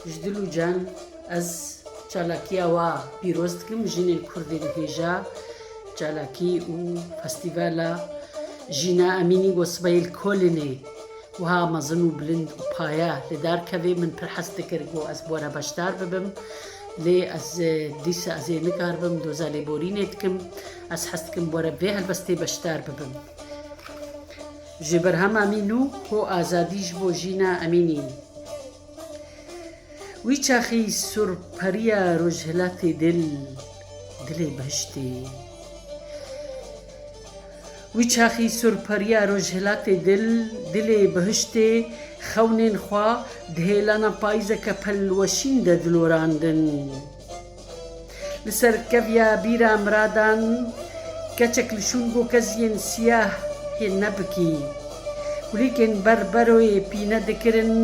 Ji dil û can ez çalakiya wa pîroz dikim jinên kurdê li hêja çalakî û festîvala Jîna Emînî got sibeyê li Kolinê wiha mezin û bilind û paye li dar kevê min pir hez dikir ku ez bi we re beşdar bibim lê ez dîsa ez ê nikaribim doza lêborînê dikim. Ez hez dikim were bê helwestê beşdar bibim. Ji berhama mî nû ho azadî ji bo jîna emî nîn. Wî çaxî surperiya rojhilatê dil, dilê behiştê. Wî çaxî surperiya rojhilatê dil, dilê behiştê xewnên xwe di hêlana payîzeke pelweşîn de dilorandin. Li ser keviya bîra miradan Keçek li şûn go keziyên siyah hê nebikî Kulîlkên ber beroyê pîne dikirin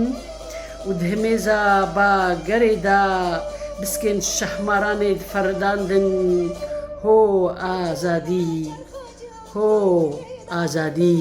û di himêza ba gerê da Biskên şahmaranê diferidandin Ho azadî! Ho azadî!